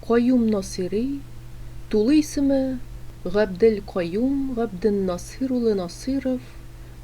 Каюм Насыйри, тулы исеме, Габдел Каюм Габден Насыйр улы Насыйров,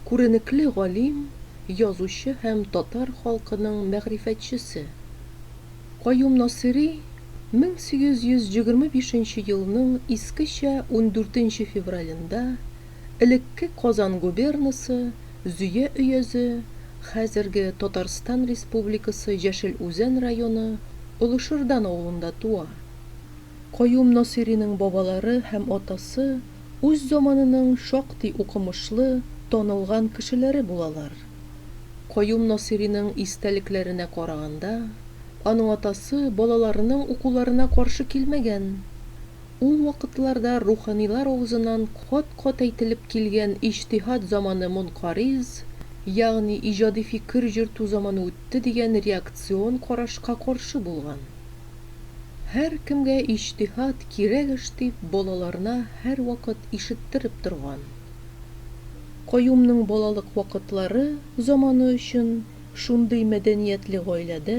күренекле галим, язучы һәм татар халкының мәгърифәтчесе. Каюм Насыйри 1825 елның искечә ундүртенче февралендә Элекке Казан губернасы Зөя өязе, хәзерге Татарстан Республикасы Яшел Үзән районы Олышырдан авылында туа. Каюм Насыйриның бабалары һәм атасы үз заманының шактый укымышлы, танылган кешеләре булалар. Каюм Насыйриның истәлекләренә караганда, аның атасы балаларының укуларына каршы килмәгән. Ул вакытларда руханилар авызыннан кат-кат әйтелеп килгән иҗтиһад заманы монкариз, ягъни иҗади фикер йөртү заманы үтте дигән реакцион карашка каршы булган. Һәркемгә иҗтиһад кирәк эш дип балаларына һәрвакыт ишеттереп торган. Каюмның балалык вакытлары заманы өчен шундый мәдәниятле гаиләдә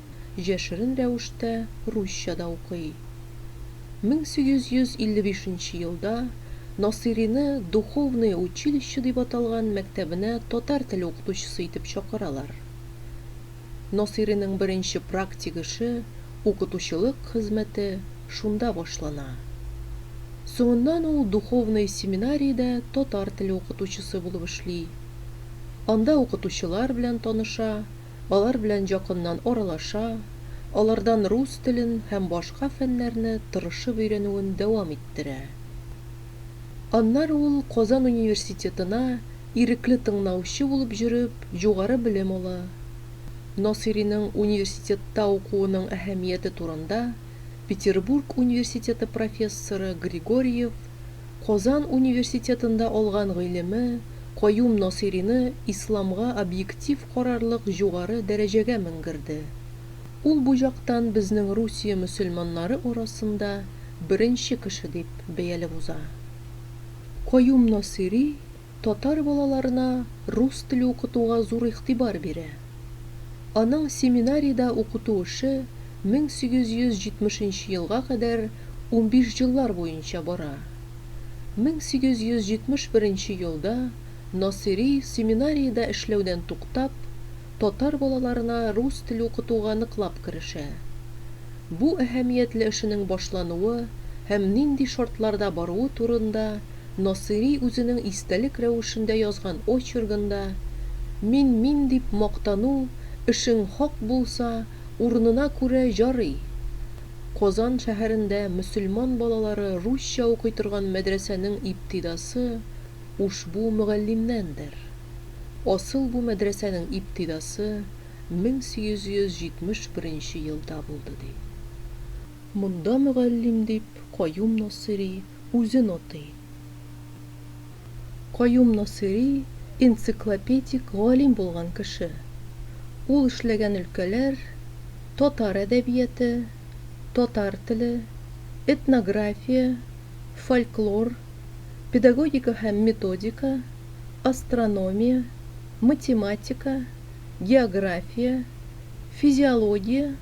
җәшерен рәвештә русча да укый. 1855 нче елда Насыйрине Духовное училище дип аталган мәктәбенә татар теле укытучысы итеп чакыралар. Насыйриның беренче практик эше, укытучылык хезмәте шунда башлана. Соңыннан ул Духовное семинариядә татар теле укытучысы булып эшли. Анда укытучылар белән таныша, алар белән якыннан аралаша, алардан рус телен һәм башка фәннәрне тырышып өйрәнүен дәвам иттерә. Аннары ул Казан университетына ирекле тыңнаучы булып җөреп югары белем ала. Насыйриның университетта укуының әһәмияте турында Петербург университеты профессоры Григорьев, Казан университетында алган гыйлеме Каюм Насыйрины исламга объектив карарлык җугары дәрәҗәгә менгерде. Ул бу яктан безнең Русия мөселманнары арасында беренче кеше дип бәялеп уза. Каюм Насыйри татар балаларына рус теле укытуга зур игътибар бирә. Аның семинариядә укыту эше 1870 нче елга кадәр унбиш җыллар буенча бара. 1871 елда Насыйри семинариядә эшләүдән туктап, татар балаларына рус теле укытуга ныклап керешә. Бу әһәмиятле эшенең башлануы һәм нинди шартларда баруы турында Насыйри үзенең истәлек рәвешендә язган очергында Мин мин дип мактану, эшең хак булса, урынына күрә ярый! Казан шәһәрендә мөселман балалары русча укый торган мәдрәсәнең ибтидасы ушбу мөгаллимнәндер. Асыл бу мәдрәсәнең ибтидасы 1871 елда булды, ди. Монда мөгаллим дип Каюм Насыйри үзен атый. Каюм Насыйри энциклопедик галим булган кеше. Ул эшләгән өлкәләр, татар әдәбияте, татар теле, этнография, фольклор, педагогика һәм методика, астрономия, математика, география, физиология,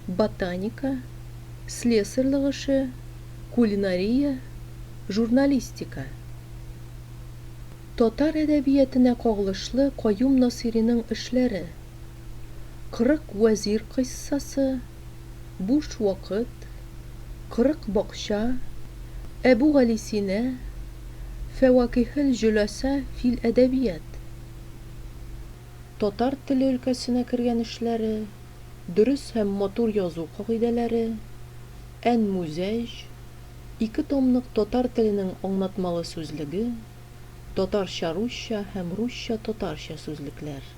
ботаника, слесарьлык эше, кулинария, журналистика. Татар әдәбиятенә кагылышлы Каюм Насыйриның эшләре, Кырык вәзир кыйссасы, Буш вакыт, Кырык бакча, Әбүгалисина, Фәвакихел-җөласа фил әдәбият, Татар теле өлкәсенә кергән эшләре, Дөрес һәм матур язу кагыйдәләре, Әнмүзәҗ, ике томлык татар теленең аңлатмалы сүзлеге, Татарча-русча һәм русча-татарча сүзлекләр.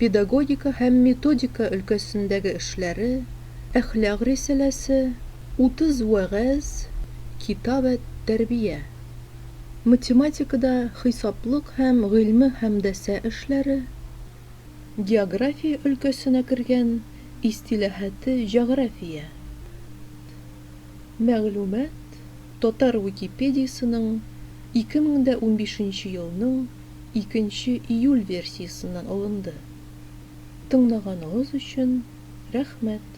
педагогика һәм методика өлкәсендәге эшләре, Әхлак рисаләсе, Утыз вәгазь, Китап әт-тәрбия, математикада хисаплык һәм гыйльме һәмдәсә эшләре, география өлкәсенә кергән Истиләһате җәгърафия, мәгълүмат, Татар Википедиясенең 2015 елның 2 июль версиясеннән алынды. Тыңлаганыгыз өчен рәхмәт!